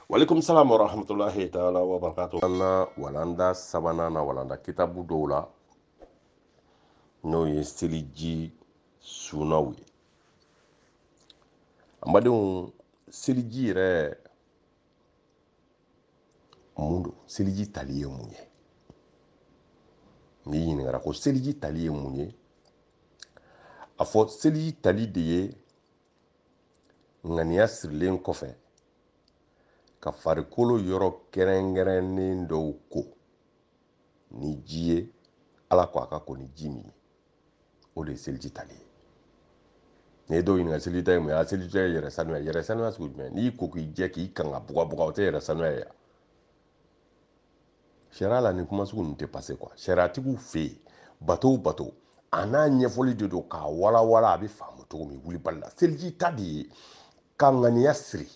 walekum salam wa rahmatullahi taala wa barakatu an na walanda sabanan na walanda kitabu dɔw la n'o ye seliji sunaw ye an badenw seliji yɛrɛ mun don seliji tali ye mun ye n'i ɲininkara ko seliji tali ye mun ye a fɔ seliji tali de ye ŋaniya sirilen kɔfɛ ka farikolo yɔrɔ kɛrɛnkɛrɛnnen dɔw ko ni ji ye ala ko a ka ko ni ji min ye o de ye seliji tali ye n'i ye dɔw ɲininka seliji ta ye mun ye a seliji ta ye yɛrɛ sanuya yɛrɛ sanuya sugu jumɛn n'i ko k'i jɛ k'i kanga bugabuga o tɛ yɛrɛ sanuya ye sariya la nin kuma sugu ninnu tɛ pase kuwa sariyatigiw fɛ yen bato o bato a n'a ɲɛfɔli de don k'a walawala a bɛ faamu cogo min wulibali la seliji ta de ye ka ŋaniya siri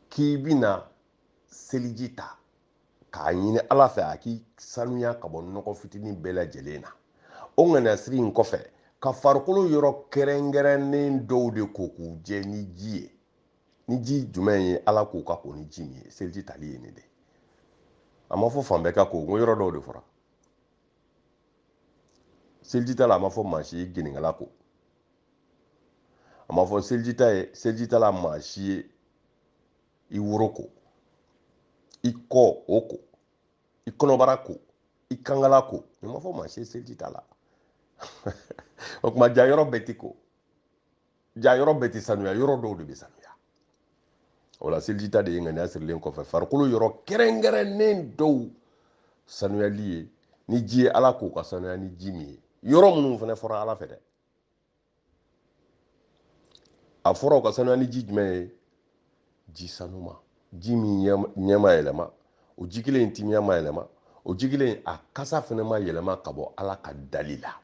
k'i bɛna seliji ta k'a ɲini ala fɛ a k'i sanuya ka bɔ nɔgɔ fitinin bɛɛ lajɛlen na o ŋaniya siri in kɔfɛ ka farikolo yɔrɔ kɛrɛnkɛrɛnnen dɔw de ko k'u jɛ ni ji ye ni ji jumɛn ye ala k'u ka ko ni ji min ye seliji tali ye nin de a ma fɔ fan bɛɛ ka ko n ko yɔrɔ dɔw de fɔra seliji ta la a ma fɔ maa si ye gɛnɛnkala ko a ma fɔ seliji ta ye seliji ta la maa si ye i woro ko i kɔ o ko i kɔnɔbara ko i kankala ko nin ma fɔ maa si ye seliji ta la o tuma jaa yɔrɔ bɛɛ ti ko jaa yɔrɔ bɛɛ ti sanuya yɔrɔ dɔw de bɛ sanuya o la seliji ta de ye ŋaniya sirilen kɔfɛ farikolo yɔrɔ kɛrɛnkɛrɛnnen dɔw sanuyali ye ni ji ye ala k'u ka sanuya ni ji min ye yɔrɔ minnu fana fɔra ala fɛ dɛ a fɔra u ka sanuya ni ji jumɛn ye ji sanuma ji min ɲɛ ma yɛlɛma o ji kelen in timiya ma yɛlɛma o ji kelen in a kasa fana ma yɛlɛma ka bɔ ala ka dali la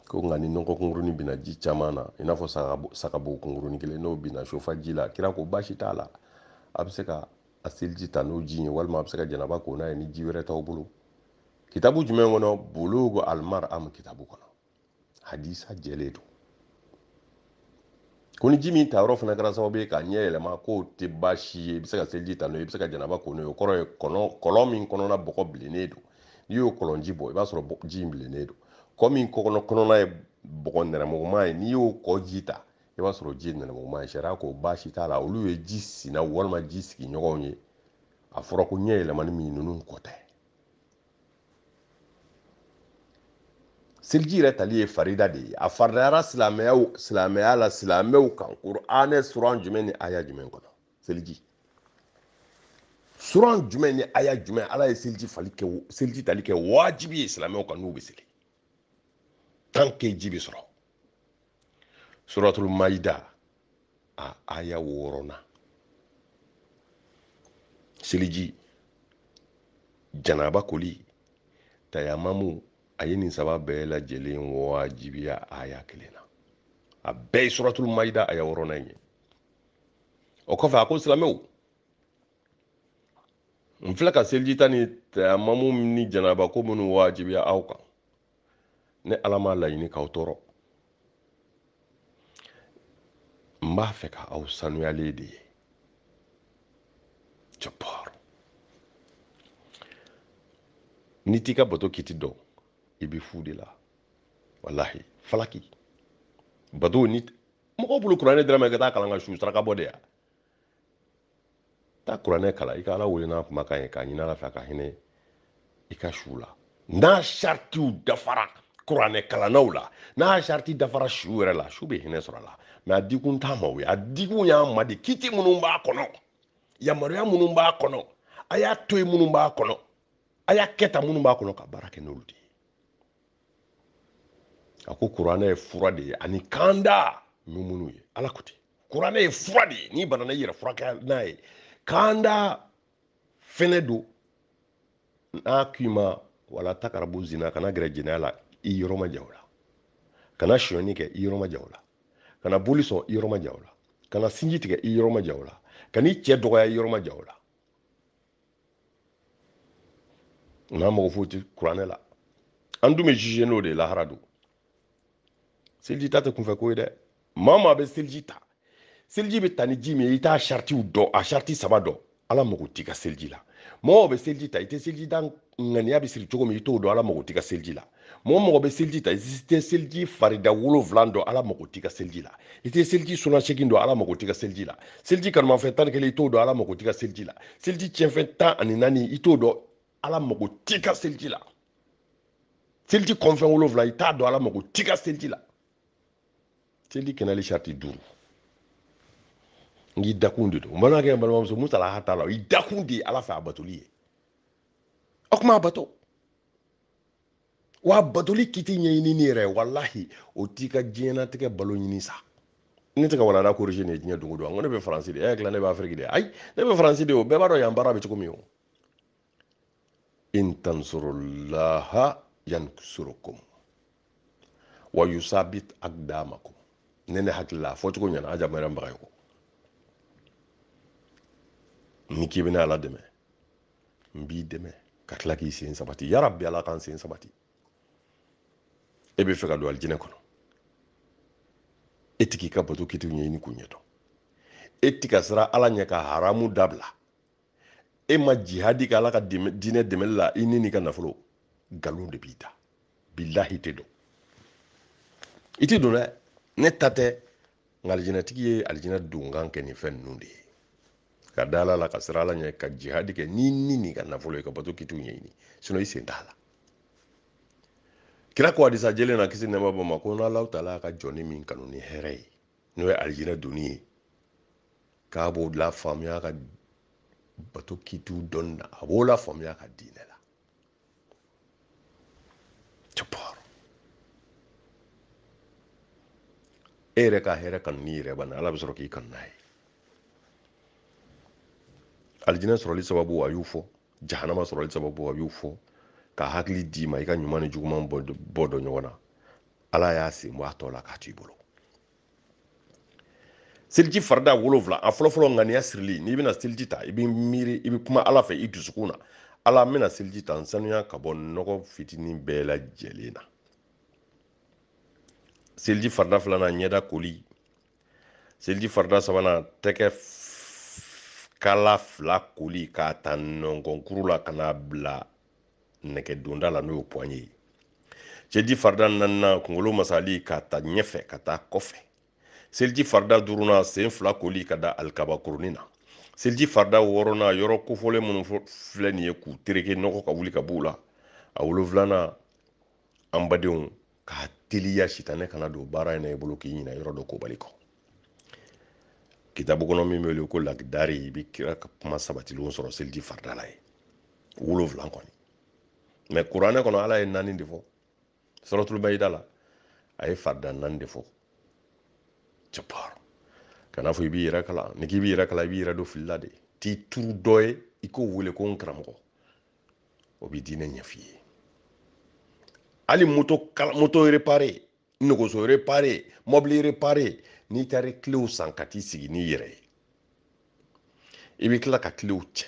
ko nka ni nɔgɔ kunkurunin bina ji caman na i n'a fɔ sagabo kunkurunin kelen n'o bina so fa ji la kira ko baasi t'a la a bɛ se ka a seliji ta n'o ji ye walima a bɛ se ka janaba ko n'a ye ni ji wɛrɛ t'aw bolo kitabu jumɛn kɔnɔ bulugu almaram kitabu kɔnɔ hadisa jɛlen don ko ni ji min ta yɔrɔ fana kɛra sababu ye k'a ɲɛ yɛlɛma k'o tɛ baasi ye i bɛ se ka seliji ta n'o ye i bɛ se ka janaba ko n'o ye o kɔrɔ ye kɔlɔn kɔlɔn min kɔnɔna bɔgɔ bilennen don n'i y'o kɔlɔnji bɔ i b'a sɔrɔ ji in bilennen don kɔ min kɔnɔ kɔnɔna ye bɔgɔ nɛrɛmuguma ye n'i y'o kɔ ji ta i b'a sɔrɔ ji ye nɛrɛmuguma ye sariya ko baasi t'a la olu ye ji sinaw walima ji sigiɲɔgɔnw ye a fɔra ko ɲɛ yɛlɛmani min ninnu ko tɛ seliji yɛrɛ tali ye farida de ye a faridayara silamɛyaw silamɛya la silamɛw kan kuranɛ suran jumɛn ni aya jumɛn kɔnɔ seliji suran jumɛn ni aya jumɛn ala ye seliji fali kɛ seliji tali kɛ wajibi ye silamɛw kan n'u bɛ seli tant que ji bɛ sɔrɔ suratul maida a aya wɔɔrɔnan seliji janaba koli tayamamu a ye nin saba bɛɛ lajɛlen wajibiya aya kelen na a bɛɛ ye suratul maida aya wɔɔrɔnan ye o kɔfɛ a ko silamɛw n filɛ ka seliji ta ni tayamamu ni janaba ko minnu wajibiya aw kan ne ala m'a laɲini k'aw tɔɔrɔ n b'a fɛ ka aw sanuyalen de ye jabar n'i t'i ka bato kiti dɔn i bɛ fu de la walahi falaki bato ni mɔgɔw bolo kuranɛ dira an ma i ka taa kalan ka su saraka bɔ de ya taa kuranɛ kalan i ka ala wele n'a kumakan ye k'a ɲini ala fɛ ka hinɛ i ka su la n'a saritiw dafara kuranɛ kalannaw la n'a sariti dafara su yɛrɛ la su bɛ hinɛ sɔrɔ a la mais a dikun t'an ma o ye a dikun y'an ma de kiti minnu b'a kɔnɔ yamaruya minnu b'a kɔnɔ a y'a to yen minnu b'a kɔnɔ a y'a kɛ tan minnu b'a kɔnɔ ka baara kɛ n'olu de ye a ko kuranɛ ye fura de ye ani kanda muminu ye ala ko ten kuranɛ ye fura de ye n'i banana i yɛrɛ furakɛ n'a ye kanda fɛnɛ don n'a k'i ma wala takarabu zina kana gɛrɛ jɛnɛya la i yɔrɔ majan o la kana sonyani kɛ i yɔrɔ majan o la kana boli sɔn i yɔrɔ majan o la kana sinji tigɛ i yɔrɔ majan o la kan'i cɛ dɔgɔya i yɔrɔ majan o la n'an mago foyi tɛ kuranɛ la an dun bɛ juger n'o de ye lahara don seliji ta tɛ kunfɛ ko ye dɛ maa maa bɛ seliji ta seliji bɛ ta ni ji min ye i t'a saritiw dɔn a sariti saba dɔn ala mago t'i ka seliji la mɔgɔ bɛ seliji ta i tɛ seliji da ŋaniya bɛ siri cogo min i t'o dɔn ala mago t'i ka seliji la mɔgɔ mɔgɔ bɛ seliji ta i tɛ seliji farida wolonwula dɔn ala mago t'i ka seliji la i tɛ seliji suna segin dɔn ala mago t'i ka seliji la seliji kanumafɛn tan ni kelen i t'o dɔn ala mago t'i ka seliji la seliji tiɲɛfɛn tan ani naani i t'o dɔn ala mago t'i ka seliji la seliji kɔnfɛn wolonwula i t'a dɔn ala mago t'i ka seliji la seliji kɛnɛli sariti duuru n'i dakun de don n balimakɛ n balimamuso musalaha t'a la i dakun de ye ala fɛ a batoli ye o kuma a bato wa batoli kiti ɲɛɲini n'i yɛrɛ walahi o t'i ka diɲɛnatigɛ balo ɲini sa ne tɛ ka walada korisi nin diɲɛ don o don an ko ne bɛ faransi de y'a dilan ne bɛ afiriki de ayi ne bɛ faransi de o bɛɛ b'a dɔn yan baara bɛ cogo min o in tansurulaha yansurukum wa yusabit akdamakum ne ne hakili la a fɔcogo ɲɛna a jamana baga ye ko n'i k'i bɛna ala dɛmɛ n b'i dɛmɛ ka tila k'i sen sabati ya rabi ala k'an sen sabati e bɛ fɛ ka don alijinɛ kɔnɔ e ti k'i ka bato kitiw ɲɛɲini k'u ɲɛ dɔn e ti ka sira ala ɲɛ ka haramu dabila e ma jihadi kɛ ala ka diinɛ dɛmɛli la i ni n'i ka nafolo nkalon de b'i da bilahi i tɛ don i tɛ don dɛ ne ta tɛ nka alijinɛtigi ye alijinɛ donkan kɛ nin fɛn ninnu de ye ka da ala la ka sira ala ɲɛ ka jihadi kɛ n'i ni n'i ka nafolo ye ka bato kitiw ɲɛɲini sinɔ i sen t'a la kira ko hadisa jɛlen na kisi nɛɛma b'a ma ko n'ala taala ka jɔni min kanu ni hɛrɛ ye n'o ye alijinɛ donni ye k'a b'o lafaamuya ka bato kitiw dɔnni na a b'o lafaamuya ka diinɛ la jabar e yɛrɛ ka hɛrɛ kanu n'i yɛrɛ bana ala bɛ sɔrɔ k'i kanu n'a ye alijinɛ sɔrɔli sababu a y'u fɔ jahanama sɔrɔli sababu a y'u fɔ ka hakili d'i ma i ka ɲuman ni juguman bɔ dɔn ɲɔgɔn na ala y'a sen bɔ a tɔ la k'a to i bolo seliji farida wolonwula a fɔlɔfɔlɔ ŋaniya sirili n'i bɛna seliji ta i bɛ miiri i bɛ kuma ala fɛ i dusukun na ala n bɛna seliji ta n sanuya ka bɔ nɔgɔ fitinin bɛɛ lajɛlen na seliji farida filanan ɲɛda koli seliji farida sabanan tɛgɛ kala fila koli k'a ta nɔnkɔnkuru la ka n'a bila nɛgɛ donda la n'o ye pɔnye ye seliji farida naaninan kunkolo masali k'a ta ɲɛfɛ ka taa kɔfɛ seliji farida duurunan sen fila koli ka da alikaba kurunin na seliji farida wɔɔrɔnan yɔrɔ kofɔlen minnu filɛ nin ye k'u tereke nɔgɔ ka wuli ka b'u la a wolonfilanan an badenw k'a teliya sitanɛ kana don baara in na i bolo k'i ɲina yɔrɔ dɔ kobali kɔ kitabu kɔnɔ min bɛ wele ko lakidari i bɛ kira ka kuma sabatilenw sɔrɔ seliji farida la ye wolonwula kɔni mɛ kuranɛ kɔnɔ ala ye naani de fɔ suratul mayida la a ye farida naani de fɔ jabar kana fɔ i b'i yɛrɛ kalan n'i k'i b'i yɛrɛ kalan i b'i yɛrɛ don fili la de t'i turu dɔ ye i k'o wele ko n karamɔgɔ o bɛ diinɛ ɲɛf'i ye hali moto kala moto repare nɛgɛso repare mɔbili repare n'i taara kilew san ka t'i sigi n'i yɛrɛ ye i bɛ tila ka kilew cɛ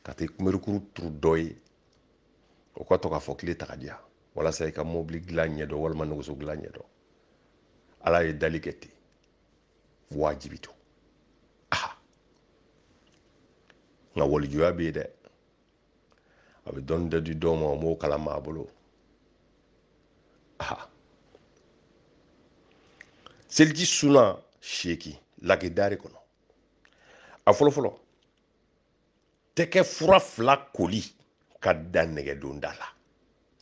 ka taa kunberikuru turu dɔ ye o ka to k'a fɔ kile ta k'a di yan walasa i ka mɔbili dilan ɲɛdɔn walima nɛgɛso dilan ɲɛdɔn ala ye dali kɛ ten wajibi to aha nka walijuya bɛ yen dɛ a bɛ dɔnni dɔ di dɔw ma o m'o kalan maa bolo aha seliji sunan seegin lagedari kɔnɔ a fɔlɔfɔlɔ tɛgɛ fura fila koli ka dan nɛgɛdonda la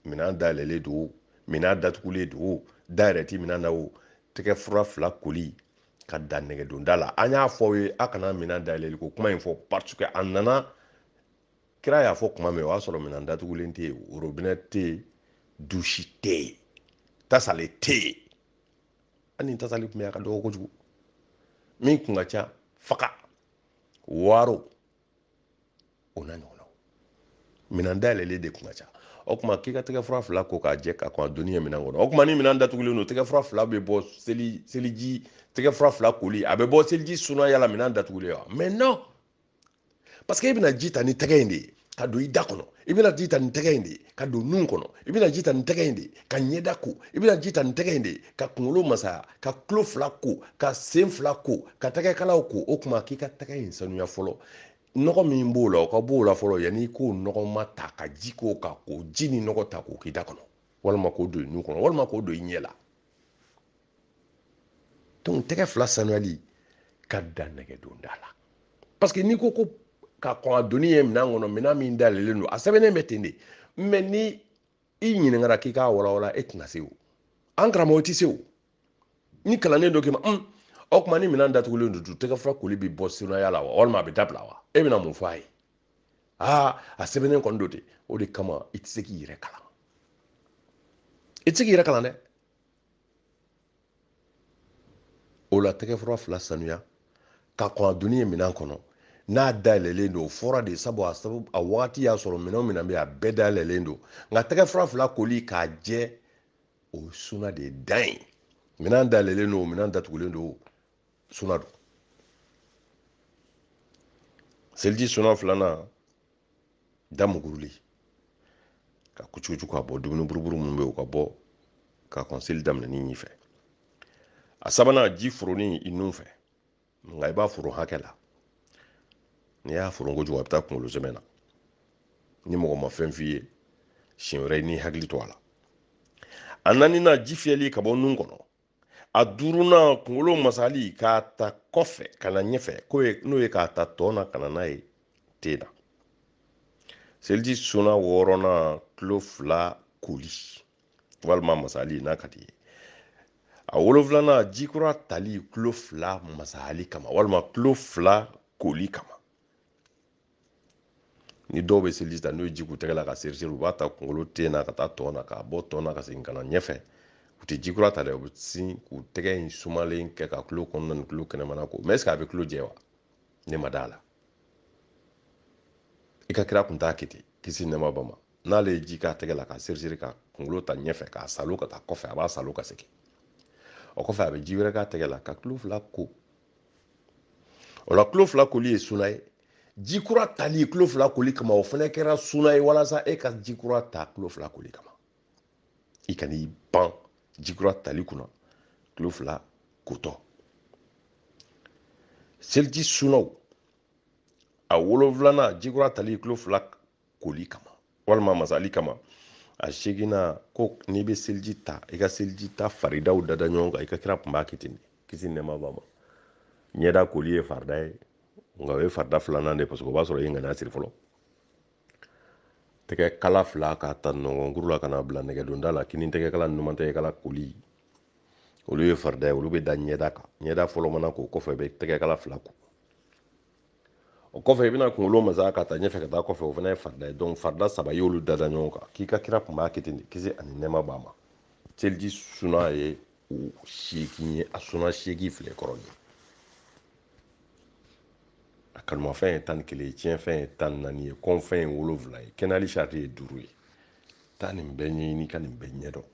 minan dayɛlɛlen don o minan datugulen don o da yɛrɛ ti minan na o tɛgɛ fura fila koli ka dan nɛgɛdonda la an y'a fɔ aw ye a kana minan dayɛlɛli ko kuma in fɔ parce que a nana kira y'a fɔ kuma min o y'a sɔrɔ minan datugulen tɛ yen worobinɛ tɛ yen dusi tɛ yen tasale tɛ yen hali ni tasali tun bɛ a ka dɔgɔ kojugu min tun ka ca faga waro o n'a ɲɔgɔnna minɛn dayɛlɛlen de tun ka ca o tuma k'i ka tɛgɛfura fila ko k'a jɛ ka kɔn a donni ye minɛn kɔnɔ o tuma ni minɛn datugulen don tɛgɛfura fila bɛ bɔ seli seliji tɛgɛfura fila koli a bɛ bɔ seliji sunaya la minɛn datugulen wa mais non parce que e bɛna ji ta ni tɛgɛ in de ye ka don i da kɔnɔ i bɛna ji ta ni tɛgɛ in de ye ka don nun kɔnɔ i bɛna ji ta ni tɛgɛ in de ye ka ɲɛda ko i bɛna ji ta ni tɛgɛ in de ye ka kunkolo masaya ka tulo fila ko ka sen fila ko ka tɛgɛkalaw ko o tuma k'i ka tɛgɛ in sanuya fɔlɔ nɔgɔ min b'o la o ka b'o la fɔlɔ yanni i k'o nɔgɔma ta ka ji k'o kan k'o ji ni nɔgɔ ta k'o k'i da kɔnɔ walima k'o don i nun kɔnɔ walima k'o don i ɲɛ la donc tɛgɛ fila sanuyali ka dan nɛgɛdonda la parce que n'i ko ko ka kɔn a donni ye minɛn kɔnɔ minɛn min dayɛlɛlen don a sɛbɛnnen bɛ ten de mais ni i ɲininkara k'i k'a walawala e tɛna se o an karamɔgɔ tɛ se o ni kalannen dɔ k'i ma un o tuma ni minɛn datugulen don tɛgɛ fila koli bɛ bɔ sunaya la wa walima a bɛ dabila wa e bɛna mun fɔ a ye aa a sɛbɛnnen kɔni don de o de kama i tɛ se k'i yɛrɛ kalan i tɛ se k'i yɛrɛ kalan dɛ o la tɛgɛfura fila sanuya ka kɔn a donni ye minɛn kɔnɔ n'a dayɛlɛlen don o fɔra de sabu a sabu a wagati y'a sɔrɔ minɛn o minɛn bɛ a bɛɛ dayɛlɛlen don nka tɛgɛfura fila koli k'a jɛ o ye suna de dan ye minɛn dayɛlɛlen don o minɛn datugulen don suna don seliji suna filanan da muguruli ka kucukucu ka bɔ dumuni buruburu minnu bɛ u ka bɔ ka kɔn seli daminɛni ɲɛfɛ a sabanan ji foronni i nun fɛ nka i b'a foro hakɛ la n'i y'a foro kojugu a bɛ taa kunkolo zɛmɛ na ni mɔgɔ ma fɛn f'i ye siɲɛ wɛrɛ i n'i hakili to a la a naaninan ji fiyɛli ka bɔ nun kɔnɔ a duurunan kunkolo masali k'a ta kɔfɛ ka na ɲɛfɛ n'o ye k'a ta tɔn na ka na n'a ye ten na seliji suna wɔɔrɔnan tulo fila koli walima masali n'a ka d'i ye a wolonfilanan ji kura tali tulo fila masali kama walima tulo fila koli kama ni dɔw bɛ seliji ta n'u ye ji k'u tɛgɛ la ka seri seri u b'a ta kunkolo ten na ka taa tɔn na k'a bɔ tɔn na ka segin ka na ɲɛfɛ u tɛ ji kura ta dɛ u bɛ sin k'u tɛgɛ in sumalen kɛ ka tulo kɔnɔna ni tulo kɛnɛmana ko mɛ ɛseke a bɛ tulo jɛ wa ne ma d'a la i ka kira kun t'a kɛ ten kisi nɛɛma b'a ma n'ale ye ji k'a tɛgɛ la k'a seri seri ka kunkolo ta ɲɛfɛ k'a salo ka taa kɔfɛ a b'a salo ka segin o kɔfɛ a bɛ ji wɛrɛ k'a tɛgɛ la ka tulo fila ko o la tulo fila koli ye suna ye ji kura tali tulo fila koli kama o fana kɛra suna ye walasa e ka ji kura ta tulo fila koli kama i kan'i ban ji kura tali kunna tulo fila kotɔ seliji sunaw a wolonfilanan ji kura tali tulo fila koli kama walima masali kama a seeginnan ko n'i bɛ seliji ta i ka seliji ta faridaw dada ɲɔgɔn kan i ka kira tun b'a kɛ ten de kisi nɛɛma b'a ma ɲɛda koli ye farida ye nka o ye farida filanan de ye paseke o b'a sɔrɔ i ye ŋaniya siri fɔlɔ tɛgɛ kala fila k'a ta nɔngɔnkuru la ka na bila nɛgɛdonda la kini tɛgɛ kala ni numan tɛgɛ kala koli olu ye farida ye olu bɛ da ɲɛda kan ɲɛda fɔlɔ mana ko o kɔfɛ i bɛ tɛgɛ kala fila ko o kɔfɛ i bɛna kunkolo masa ka taa ɲɛfɛ ka taa kɔfɛ o fana ye farida ye donc farida saba i y'olu dada ɲɔgɔn kan k'i ka kira kun b'a kɛ ten de kisi ani nɛɛma b'a ma seliji suna ye o seegin ye a suna seegin filɛ kɔrɔ ye a kanumafɛn ye tan ni kelen ye tiɲɛfɛn ye tan ni naani ye kɔnfɛn ye wolonfila ye kɛnɛyali sariti ye duuru ye taa nin bɛɛ ɲɛɲini ka nin bɛɛ ɲɛdɔn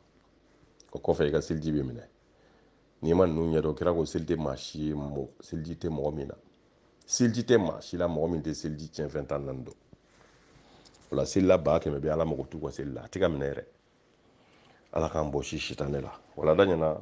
o kɔfɛ i ka seliji bɛ minɛ n'i ma ninnu ɲɛdɔn kira ko seli tɛ maa si ye mɔgɔ seliji tɛ mɔgɔ min na seliji tɛ maa si la mɔgɔ min tɛ seliji tiɲɛfɛn tan naani dɔn o la selila ba kɛmɛ bɛ ala mago t'u ka seli la a tɛ k'a minɛ yɛrɛ ala k'an bɔsi sitanɛ la walanda ɲɛna